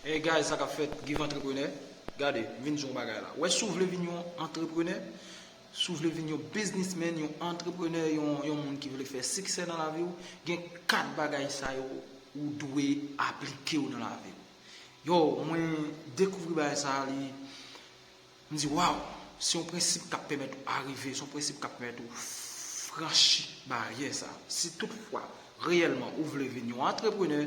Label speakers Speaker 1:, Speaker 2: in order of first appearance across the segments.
Speaker 1: Hey guys sa kap fèt give antreprenè gade m vin di w yon bagay la wè si w vle vin yon antreprenè si w vle vin yon biznis men yon antreprenè yon moun ki vle fè siksè nan lavi w gen 4 bagay sa yo ou dwe aplike w nan lavi w yo mwen dekouvri bagay sa li M di waw, se yon prensip k ap pèmèt ou arive, se yon prensip k ap pèmèt ou franchi baryè sa. Si tout fwa, reyèlman ou vle vin yon antreprenè,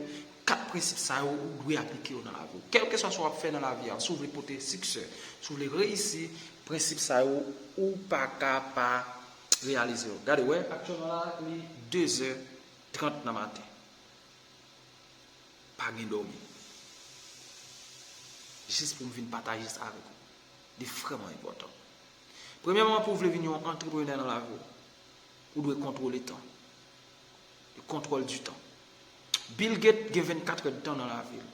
Speaker 1: 4 prensip sa yo ou dwe aplike yo nan lavi w. Kèlkeswa sa w ap fè nan lavi a, si w vle pote siksè, si w vle reyisi, prensip sa yo ou pa ka pa reyalize yo. Gade wè, aktyèlman la li dezè trant nan maten. Pa gen dòmi. Jis pou m vin pataje sa avèk ou. Li vrèman enpòtan. Premyèman pou w vle vin yon antreprenè nan lavi w, ou dwe kontwole tan. Le contrôle du temps. Bill Gates gen 24 èd tan nan lavi l.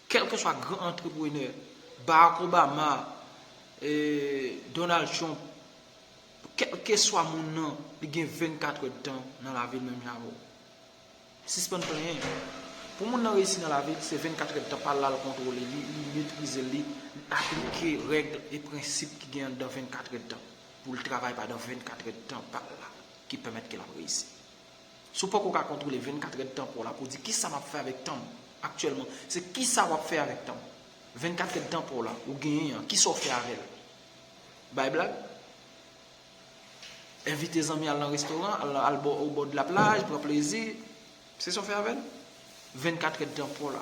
Speaker 1: Kèlke swa gran antreprenè, Barack Obama, Donald Trump, kèlke swa moun nan, li gen 24 èd tan nan lavi l menm jan avè w. Sispann plenyen. Pou moun nan reyisi nan lavi l se 24 èdtan pa l la l kontwole li, li metrize l, li aplike règ e prensip ki gen anndan 24 èdtan pou l travay pandan 24 èdtan pa l la ki pèmèt ke l ap reyisi. Si w poko ka kontwole 24 èdtan pa w la pou w di kisa m ap fè avèk tan m aktyèlman se kisa w ap fè avèk tan 24 èdtan pa w la ou genyen an kisa w fè avè l? Bay blag? Envite zanmi al nan restoran, al bo o bo de la plaj, pran plezi. Se sa w fè avè l? 24 èd tan paw la,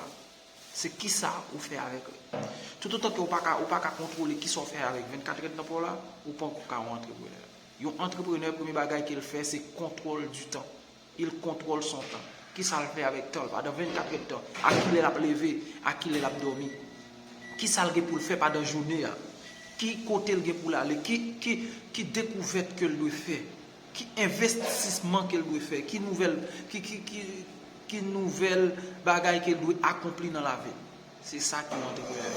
Speaker 1: se ki sa ou fè avèk li? Tout otan ke ou pa ka, ou pa ka kontwole ki sa w fè avèk 24 èd tan paw la, ou panko ka yon antreprenè. Yon antreprenè premye bagay ke l fè se kontwòl di tan. Il kontwòl son tan. Kisa l fè avèk tan l padan 24 èd tan? A kilè l ap leve? A kilè l ap dòmi? Kisa l gen pou l fè padan jounen an? Ki kote l gen pou l ale? Ki dekouvèt ke l dwe fè? Ki envestisman ke l dwe fè? Ki nouvèl Ki nouvèl bagay ke l dwe akonpli nan lavi l? Se sa ki yon antreprenè.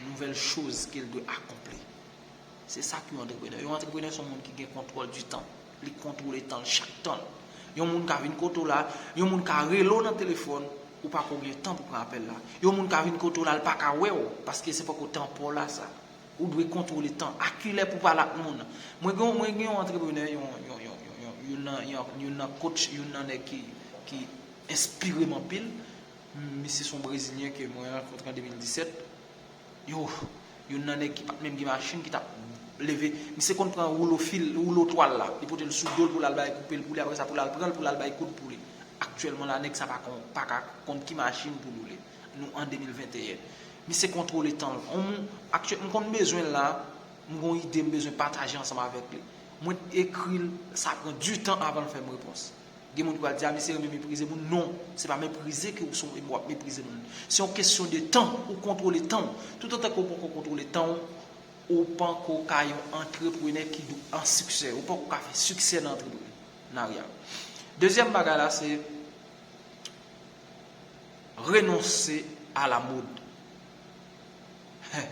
Speaker 1: Nouvèl choz ke l dwe akonpli. Se sa ki yon antreprenè. Yon antreprenè son moun ki gen kontwòl di tan. Li kontwole tan l chak tan l. Yon moun ka vin kote w la, yon moun ka rele w nan telefòn, ou pa ko gen tan pou pran apèl la. Yon moun ka vin kote w la l pa ka wè w, paske se poko tan pa w la sa. Ou dwe kontwole tan. A ki lè pou w pale ak moun. Mwen gen mwen gen yon antreprenè, yon yon yon yon yon youn nan yon youn nan coach, youn nan nèg ki ki enspire m anpil. Misye se yon brezilyen ke mwen rankontre an 2017. Yo, youn nan nèg ki pat menm gen machin ki tap leve, misye konn pran woulo fil, woulo twal la, li potel sou dol poul al bay koupe l pou li aprè sa poul al pranl poul al bay koud pou li. Aktyèlman la nèg sa pa kon, pa ka konn ki machin poul woule. Nou an 2021. Misye kontwole tanl. On moun, aktyè, m konn bezwen l la, m gon ide m bezwen pataje ansanm avèk li. Mwen t ekril, sa pran du tan avanl fèm repons. Gen moun ki pral di a misye renmen meprize moun non se pa meprize ke ou son wap meprize moun se yon kesyon de tan ou kontwole tanw tout antan ke ou poko kontwole tanw ou panko ka yon antreprenè ki do an siksè ou panko ka fè siksè nan antreprenarya dezyèm bagay la se renonse a la mod. Heh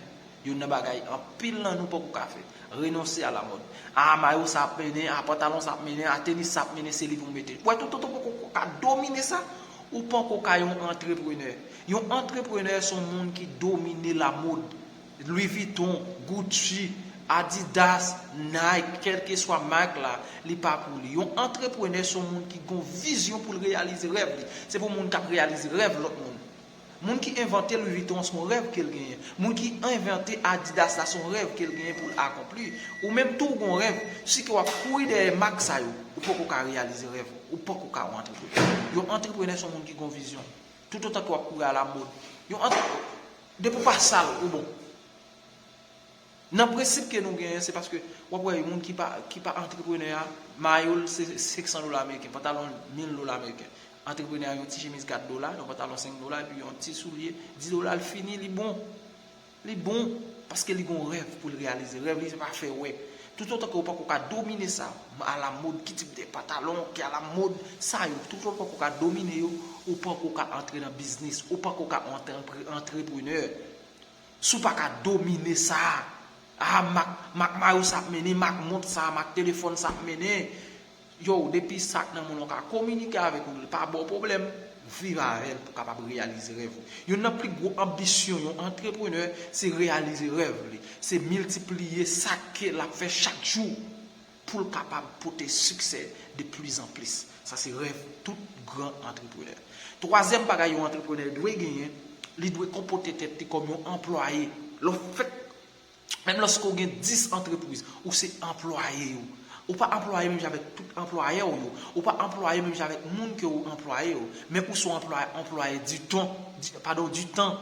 Speaker 1: youn nan bagay anpil nan nou poko ka fè. Renonse a la mòd. A mayo sa ap mennen, a pantalon sa ap mennen, a tenis sa ap mennen se li pou m mete. Wè tout otan poko ka domine sa, ou panko ka yon antreprenè. Yon antreprenè se yon moun ki domine la mòd. Louis Vuitton, Gucci, Adidas, Nike, kèlkeswa mak la, li pa pou li. Yon antreprenè se yon moun ki gon vizyon pou l reyalize rèv li. Se pou moun k ap reyalize rèv lòt moun. Moun ki envante Louis Vuitton an son rèv kel genyen. Moun ki envante Adidas la son rèv kel genyen poul akonpli. Ou menm tou ou gon rèv, si ke wap kouri dèyè mak sa yo, ou poko ka reyalize rèv ou. Ou poko ka yon antreprenè. Yon antreprenè son moun ki gon vizyon. Tout otan ke wap kouri a la mod. Yon antre Depi ou pa sal, ou bon. Nan prensip ke nou genyen se paske wap wè yon moun ki pa ki pa antreprenè a mayo l se 500 dola ameriken, pantalon l 1000 dola ameriken. Antreprenè a yon ti chemiz 4 dola, yon pantalon 5 dola epi yon ti soulye 10 dola l fini li bon. Li bon paske li gon rèv pou l reyalize. Rèv li se pa fè wè. Tout otan ke ou pako ka domine sa a la mode, ki tip de pantalon ki a la mode, sa yo tout otan ou pako ka domine yo ou pako ka antre nan biznis, ou pako ka antre antreprenè. Si w pa ka domine sa, ah mak mayo sa ap mennen, mak mont sa, mak telefòn sa ap mennen, yow depi sa k nan men w lan w ka kominike avèk li, li pa ba w pwoblèm, viv avè l pou w kapab reyalize rèv ou. Youn nan pi gwo anbisyon yon antreprenè se reyalize rèv li, se miltipliye sa ke l ap fè chak jou. pou l kapab pote siksè de plis an plis. Sa se rèv tout gran antreprenè. Twazyèm bagay yon antreprenè dwe genyen, li dwe konpote tèt li kòm yon anplwaye. Lè w fèk, menm lòske w gen 10 antrepwiz, ou se anplwaye yo. Ou pa anplwaye menm jan avèk tout anplwayè w yo. Ou pa anplwaye menm jan avèk moun ke ou anplwaye yo. Men ou se yon anplwaye di ton, padon, di tan.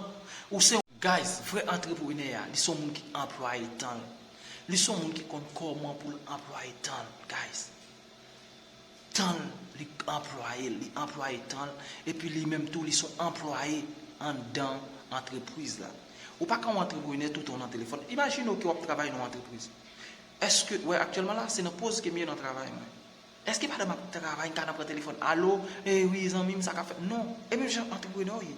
Speaker 1: Ou se yon. Guys, vrè antreprenè a, li se yon moun ki anplwaye tan l. Li son moun ki konn kòman pou l anplwaye tan l guys. Tan l li anplwaye l, li anplwaye tan l epi li menm tou li son anplwaye anndan antrepwiz la. Ou pa ka yon antreprenè toutan w nan telefòn. Imajine w ke w ap travay nan yon antrepwiz. Èske, wè aktyèlman la, se nan poz ke m ye nan travay mwen. Èske pandan m ap travay m ta nan pran telefòn, alo, e wi zanmi m sa k ap fèt? Non. E menm jan antreprenè w ye.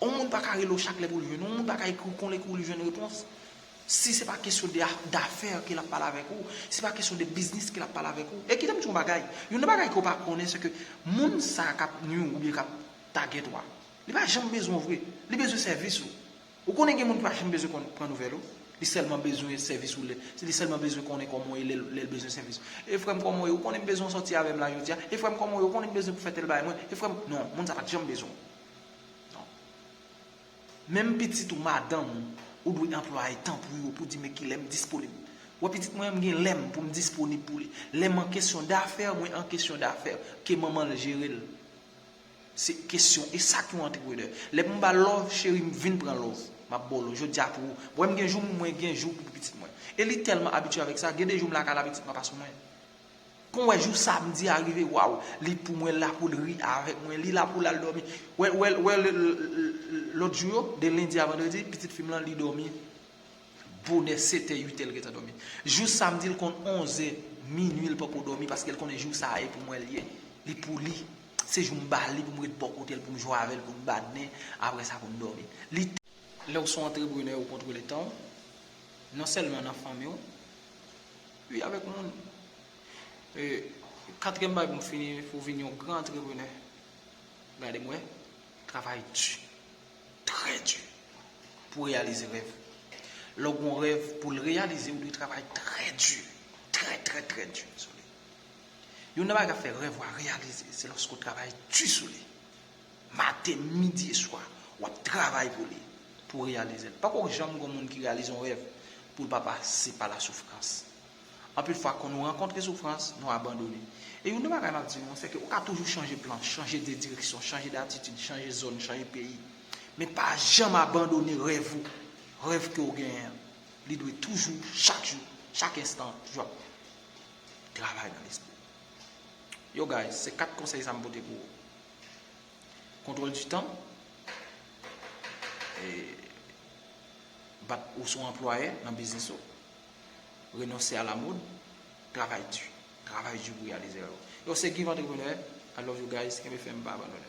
Speaker 1: On moun pa ka rele w chak lè pou l jwenn ou, on moun pa ka ekri w kon lè pou l jwenn repons. Si se pa kesyon de dafè ke l ap pale avèk ou, si se pa kesyon de biznis ke l ap pale avèk ou. E kite m di w yon bagay, youn nan bagay ke w pa konnen se ke moun sa a k ap nwi w oubyen k ap tagèt ou a, li pa janm bezwen w vre, li bezwen sèvis ou. Ou konnen gen moun ki pa janm bezwen konn pran nouvèl ou, li sèlman bezwen sèvis ou, li sèlman bezwen konnen kòman w ye lè l bezwen sèvis ou. E frè m kòman w ye? Ou konnen m bezwen w sòti avè m la jodi a? E frè m kòman w ye? Ou konnen m bezwen pou fè tèl bagay mwen? E frè m, non, moun sa a pa t janm bezwen w. Non. Menm pitit ou, madanm ou, ou dwe anplwaye tan pou yo, pou di men kilè m disponib. Wè pitit mwen an m gen lè m pou m disponib pou li. Lè m an kesyon dafè, mwen an kesyon dafè. Ke manman l jere l. Se kesyon, e sa k yon antreprenè. Lè pou m ba l love, cheri m vin pran love. M ap ba w love. Jodi a pou ou. Wè m gen jou m, mwen gen jou pou pitit mwen. E li tèlman abitye avèk sa, gen de jou m lakay la pitit mwen pa sou mwen. Pou mwen jou samedi a rive waw li pou mwen la poul ri avèk mwen li la poul al dòmi wè lòt jou yo de lundi a vendredi pitit fim lan li dòmi bonè 7 è 8 è li gentan dòmi jou samedi li konn 11 è minuit li poko dòmi paske li konnen jou sa e pou mwen li ye li pou li se jou m bali pou m ret bò kotel pou m jwe avèl pou n badnen aprè sa pou n dòmi li Lèw son antreprenè ou kontwole tanw non sèlman nan fanmiw. Ui avèk moun. E katriyèm bagay pou m fini pou vin yon gran antreprenè. Gade m wè. Travay di. Trè di. Pou reyalize rèv. Lè w gen yon rèv pou l reyalize ou dwe travay trè di. Trè trè trè di sou li. Youn nan bagay k ap fè rèv ou a reyalize se lòske w travay di sou li. Maten, midi e swa, w ap travay pou li, pou w reyalize l. Pako janm gen yon moun ki reyalize yon rèv pou l pa pase pa lasoufrans. Anpil fwa, kon nou rankontre soufrans, nou abandone. E youn nan bagay m ap di nou an, sèke ou ka toujou chanje plan, chanje de direksyon, chanje datitid, chanje zòn, chanje peyi, men pa janm abandone rèv ou, rèv ke ou genyen an. Li dwe toujou, chak jou, chak enstan, toujou ap travay nan lespri w. Yo guys, se 4 konsèy sa m pote pou ou. Contrôle du temps Bat ou sou anplwaye nan biznis ou Renonse a la mode Travay di Travay di pou reyalize rèv ou Yo se Give Entrepreneur I love you guys Kenbe fèm pa abandone